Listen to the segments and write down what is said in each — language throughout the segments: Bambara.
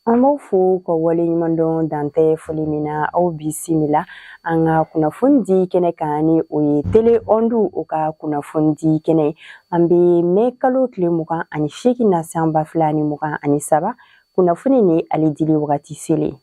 An b'aw fo ka wale ɲuman dɔn dan tɛ foli min na aw bisimila an ka kunnafoni di kɛnɛ kan ni o ye tele ɔndu o ka kunnafoni di kɛnɛ an bɛ mɛ kalo tile mugan ani seegin na san ba fila ni mugan ani saba Kunnafoni ni ale dili wagati selen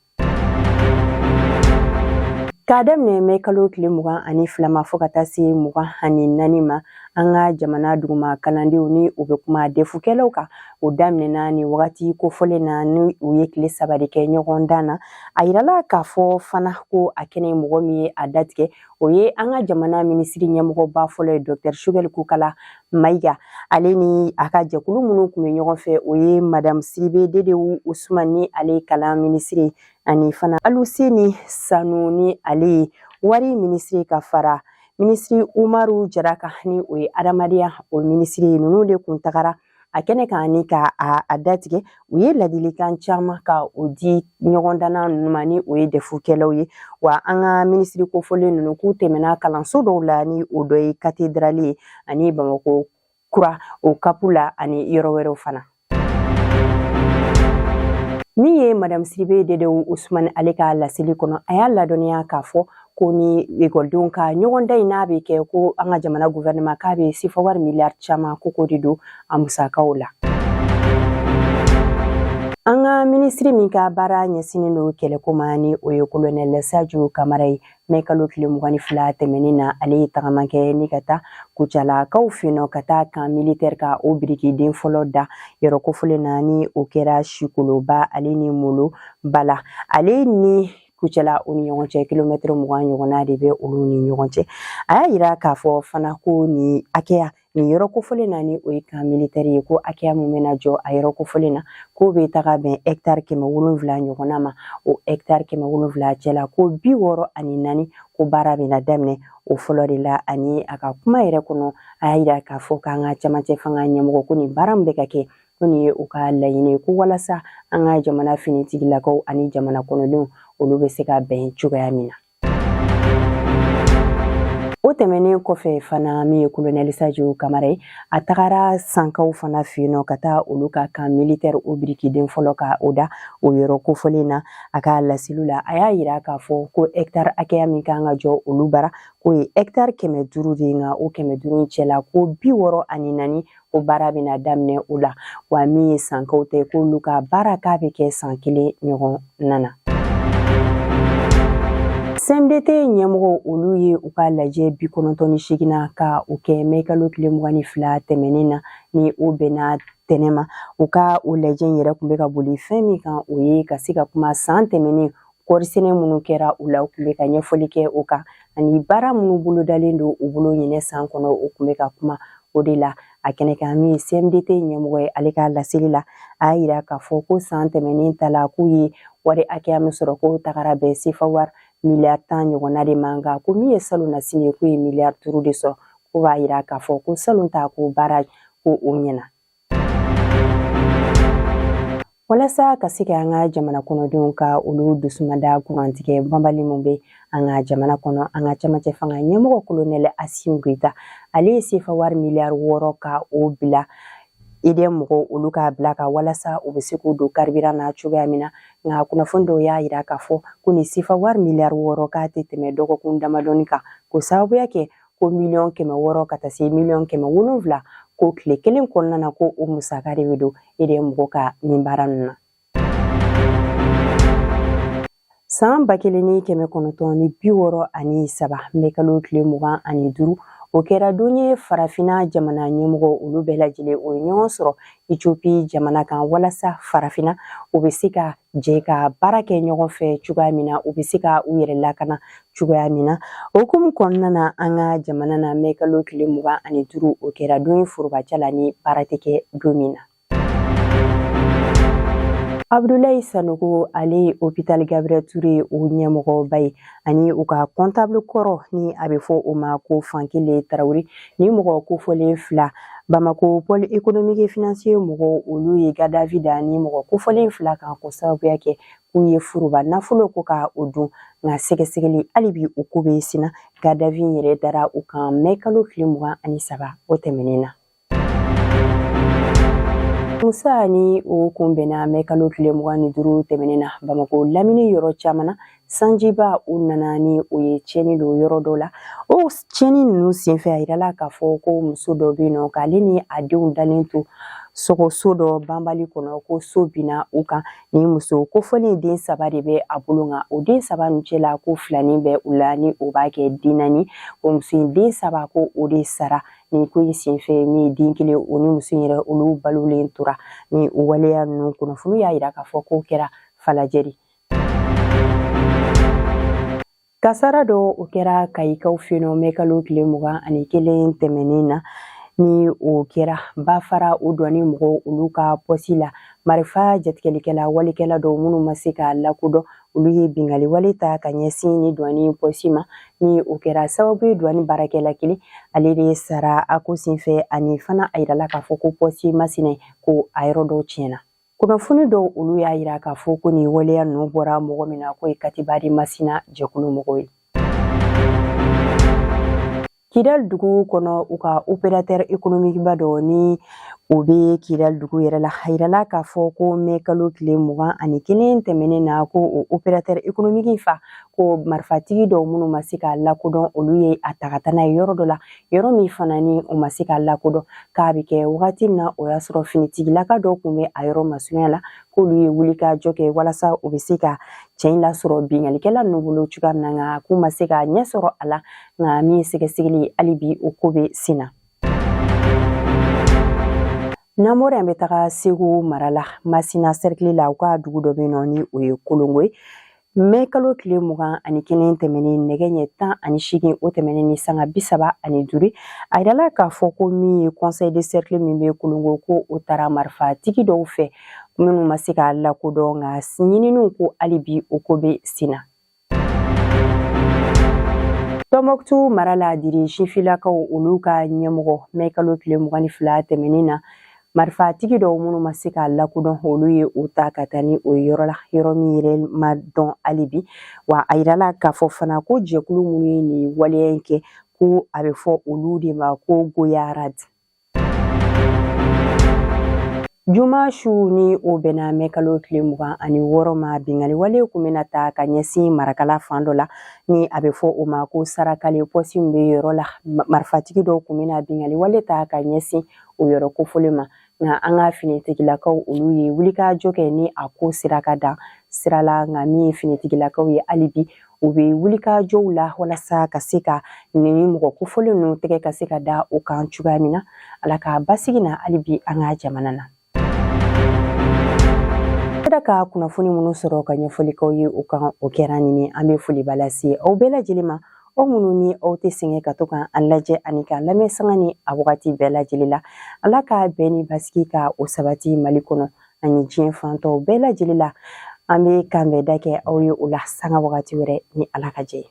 K'a daminɛ mɛ kalo tile mugan ani fila ma fo ka taa se mugan ani naani ma an ka jamana duguma kalandenw ni u bɛ kuma defukɛlaw kan o daminɛna ni wagati kofɔlen na ni u ye tile saba de kɛ ɲɔgɔndan na a yirala k'a fɔ fana ko a kɛnɛ mɔgɔ min ye a datigɛ o ye an ka jamana minisiri ɲɛmɔgɔba fɔlɔ ye dɔktɛr sugɛli kokala mayiga ale ni a ka jɛkulu minnu tun bɛ ɲɔgɔn fɛ o ye madamu sidibe dedewu usumani ni ale kalan minisiri ani fana aluseni sanu ni ale ye wari minisiri ka fara minisiri umaru jara kan ni o ye adamadenya o minisiri ye ninnu de kun tagara a kɛnɛ kan ni ka a datigɛ u ye ladilikan caman ka o di ɲɔgɔndanna ninnu ma ni o ye dɛfukɛlaw ye wa an ka minisiri kofɔlen ninnu k'u tɛmɛna kalanso dɔw la ni o dɔ ye katedrali ye ani bamakɔ kura o kapu la ani yɔrɔ wɛrɛw fana min ye madame sidibe dedewu usumani ale ka laseli kɔnɔ a y'a ladɔnniya k'a fɔ ko ni ekɔlidenw ka ɲɔgɔndan in n'a bɛ kɛ ko an ka jamana guvɛrɛnɛma k'a bɛ sefa wari miliyari caman ko k'o de don a musakaw la an ka minisiri min ka baara ɲɛsinnen don kɛlɛko ma ni o ye kolonɛlɛ sajo kamara ye mɛ kalo tile mugan ni fila tɛmɛnen na ale ye tagama kɛ ni ka taa kucalakaw fɛ yen nɔ ka taa kan militɛri ka o birikiden fɔlɔ da yɔrɔ kofɔlen na ni o kɛra sikoloba ale ni molobala ale ni kucala u ni ɲɔgɔn cɛ kilomɛtiri mugan ɲɔgɔnna de bɛ olu ni ɲɔgɔn cɛ a y'a yira k'a fɔ fana ko nin hakɛya nin yɔrɔ kofɔlen na ni o ye kan militɛri ye ko hakɛya min bɛna jɔ a yɔrɔ kofɔlen na k'o bɛ taga bɛn hɛkitari kɛmɛ wolonwula ɲɔgɔnna ma o hɛkitari kɛmɛ wolonwula cɛ la ko bi wɔɔrɔ ani naani ko baara bɛna daminɛ o fɔlɔ de la ani a ka kuma yɛrɛ kɔnɔ a y'a yira k'a fɔ k'an ka camancɛ fanga ɲɛmɔgɔ ko nin baara min bɛ ka kɛ ko nin ye u ka laɲini ko walasa an ka jamana finitigilakaw ani jamana kɔnɔdenw olu bɛ se ka bɛn cogoya min na o tɛmɛnen kɔfɛ fana min ye kolonɛli sajo kamara ye a tagara sankaw fana fɛ yen nɔ ka taa olu ka kan militɛri o birikiden fɔlɔ ka o da o yɔrɔ kofɔlen na a ka laseliw la a y'a yira k'a fɔ ko ɛkitari hakɛya min kan ka jɔ olu bara k'o ye ɛkitari kɛmɛ duuru de ye nka o kɛmɛ duuru cɛla ko bi wɔɔrɔ ani naani ko baara bɛna daminɛ o la wa min ye sankaw ta ye k'olu ka baara k'a bɛ kɛ san kelen ɲɔgɔnna na CMDT ɲɛmɔgɔ olu ye u ka lajɛ bi kɔnɔntɔn ni seeginnan ka o kɛ mɛ kalo tile mugan ni fila tɛmɛnen na ni o bɛnna tɛnɛn ma u ka o lajɛ in yɛrɛ tun bɛ ka boli fɛn min kan o ye ka se ka kuma san tɛmɛnen kɔɔri sɛnɛ minnu kɛra u la u tun bɛ ka ɲɛfɔli kɛ o kan ani baara minnu bolodalen don u bolo ɲinɛ san kɔnɔ u tun bɛ ka kuma o de la a kɛnɛ kan min ye cmdt ɲɛmɔgɔ ye ale ka laseli la a y'a yira k'a fɔ ko san tɛmɛnen ta la k'u ye wari hakɛya min sɔrɔ k'o tagara bɛn sefa wari miliyari tan ɲɔgɔnna de ma nka ko min ye salon nasini ye k'u ye miliyari duuru de sɔrɔ k'o b'a yira k'a fɔ ko salon ta ko baara ko o ɲɛna walasa ka se ka an ka jamana kɔnɔdenw ka olu dusumada kurantigɛ banbali min bɛ an ka jamana kɔnɔ an ka cɛmancɛ fanga ɲɛmɔgɔ kolonɛlɛ asimi goyita ale ye sefa wari miliyari wɔɔrɔ ka o bila EDM mɔgɔw olu ka bila kan walasa u bɛ se k'u don kariburan na cogoya min na nka kunnafoni dɔw y'a yira k'a fɔ ko nin sefa wari miliyari wɔɔrɔ k'a tɛ tɛmɛ dɔgɔkun damadɔni kan k'o sababuya kɛ ko miliyɔn kɛmɛ wɔɔrɔ ka taa se miliyɔn kɛmɛ wolonwula ko tile kelen kɔnɔna na ko o musaka de bɛ don EDM mɔgɔ ka nin baara ninnu na san ba kelen ni kɛmɛ kɔnɔntɔn ni bi wɔɔrɔ ani saba mɛ kalo tile mugan ani duuru o kɛra don ye farafina jamana ɲɛmɔgɔ olu bɛɛ lajɛlen o ye ɲɔgɔn sɔrɔ etiopi jamana kan walasa farafina u bɛ se ka jɛ ka baara kɛ ɲɔgɔn fɛ cogoya min na u bɛ se ka u yɛrɛ lakana cogoya min na o hukumu kɔnɔna na an ka jamana na mɛ kalo tile mugan ani duuru o kɛra don ye forobaca la ni baara tɛ kɛ don min na abudulayi sanogo ale ye hopital gabriel ture o ɲɛmɔgɔba ye ani u ka kɔntable kɔrɔ ni a bɛ fɔ o ma ko fankele tarawele nin mɔgɔ kofɔlen fila bamako pɔl ekonomiki e finansiye mɔgɔw olu ye garde à vue da nin mɔgɔ kofɔlen fila kan k'o sababuya kɛ k'u ye furuba nafolo ko ka o dun nka sɛgɛsɛgɛli hali bi o ko bɛ senna garde à vue yɛrɛ dara u kan mɛ kalo tile mugan ani saba o tɛmɛnen na alamusa ni o kun bɛnna mɛ kalo tile mugan ni duuru tɛmɛnen na bamakɔ lamini yɔrɔ caman na sanjiba u nana ni o ye tiɲɛni don yɔrɔ dɔ la o tiɲɛni ninnu senfɛ a yirala k'a fɔ ko muso dɔ bɛ yen nɔ k'ale ni a denw dalen to so ko so dɔ banbali kɔnɔ ko so binna u kan Nin muso kofɔlen den saba de bɛ a bolo nka o den saba ninnu cɛ la ko filanin bɛ u la ni o b'a kɛ den naani o muso in den saba ko o de sara nin ko in senfɛ min ye den kelen o ni muso in yɛrɛ olu balolen tora ni o waleya ninnu kunnafoni y'a yira k'a fɔ k'o kɛra falajɛ de Kasara dɔ o kɛra kayikaw fɛ yen nɔ mɛ kalo tile mugan ani kelen tɛmɛnen na ni o kɛra Bafara o duwani mɔgɔw olu ka pɔsi la marifa jatigɛlikɛla walekɛla dɔw minnu ma se ka lakodɔn olu ye bingali wale ta ka ɲɛsin nin duwani pɔsi ma ni o kɛra sababu ye duwani baarakɛla kelen ale de sara a ko senfɛ ani fana a yirala k'a fɔ ko pɔsi masina ko a yɔrɔ dɔw tiɲɛna Kunnafoni dɔw olu y'a yira k'a fɔ ko nin waleya ninnu bɔra mɔgɔ min na k'o ye katiba de masina jɛkulu mɔgɔw ye kidali dugu kɔnɔ u ka operatɛri ekonomikiba dɔ ni o bɛ kidali dugu yɛrɛ la a yirala k'a fɔ ko mɛ kalo tile mugan ani kelen tɛmɛnen na ko o operatɛri ekonomiki fa ko marifatigi dɔw minnu ma se ka lakodɔn olu ye a ta ka taa n'a ye yɔrɔ dɔ la yɔrɔ min fana ni o ma se ka lakodɔn k'a bɛ kɛ wagati min na o y'a sɔrɔ finitigilaka dɔw tun bɛ a yɔrɔ masurunya la k'olu ye wulikajɔ kɛ walasa u bɛ se ka cɛ in lasɔrɔ binkalikɛla ninnu bolo cogoya min na nka k'u ma se ka ɲɛ sɔrɔ a la nka min ye sɛgɛsɛgɛli ye hali bi o ko bɛ sen na n'an bɔra yen an bɛ taga segu mara la masina sɛrikili la u ka dugu dɔ bɛ yen nɔ ni o ye kolongo ye mɛ kalo tile mugan ani kelen tɛmɛnen nɛgɛ ɲɛ tan ani seegin o tɛmɛnen ni sanga bi saba ani duuru a yirala k'a fɔ ko min ye conseil de cercle min bɛ kolongo ko o tara marifatigi dɔw fɛ minnu ma se k'a lakodɔn nka ɲininiw ko hali bi o ko bɛ sen na tɔnbɔkutu mara la diri sifilakaw olu ka ɲɛmɔgɔ mɛ kalo tile mugan ni fila tɛmɛnen na marifatigi dɔw minnu ma se k'a lakodɔn olu ye o ta ka taa ni o yɔrɔ la yɔrɔ min yɛrɛ ma dɔn hali bi wa a yirala k'a fɔ fana ko jɛkulu minnu ye nin waleya in kɛ ko a bɛ fɔ olu de ma ko goyara di juma su ni o bɛnna mɛ kalo tile mugan ani wɔɔrɔ ma bingali wale kun bɛna ta ka ɲɛsin marakala fan dɔ la ni a bɛ fɔ o ma ko sarakala pɔsi min bɛ yɔrɔ la marifatigi dɔw kun bɛna bingali wale ta ka ɲɛsin o yɔrɔ kofɔlen ma nka an ka finitigilakaw olu ye wulikajɔ kɛ ni a ko sera ka dan sira la nka min ye finitigilakaw ye hali bi u bɛ wulikajɔw la walasa ka se ka nin mɔgɔ kofɔlen ninnu tɛgɛ ka se ka da o kan cogoya min na ala ka basigi na hali bi an ka jamana na an sera ka kunnafoni minnu sɔrɔ ka ɲɛfɔli k'aw ye o kan o kɛra nin ye an bɛ foliba lase aw bɛɛ lajɛlen ma Aw minnu ni aw tɛ sɛgɛn ka to ka an lajɛ ani ka lamɛn sanga ni a wagati bɛɛ lajɛlen la Ala ka bɛn ni basigi ka o sabati Mali kɔnɔ ani diɲɛ fan tɔw bɛɛ lajɛlen la an bɛ kanbɛnda kɛ aw ye o la sanga wagati wɛrɛ ni Ala ka jɛn ye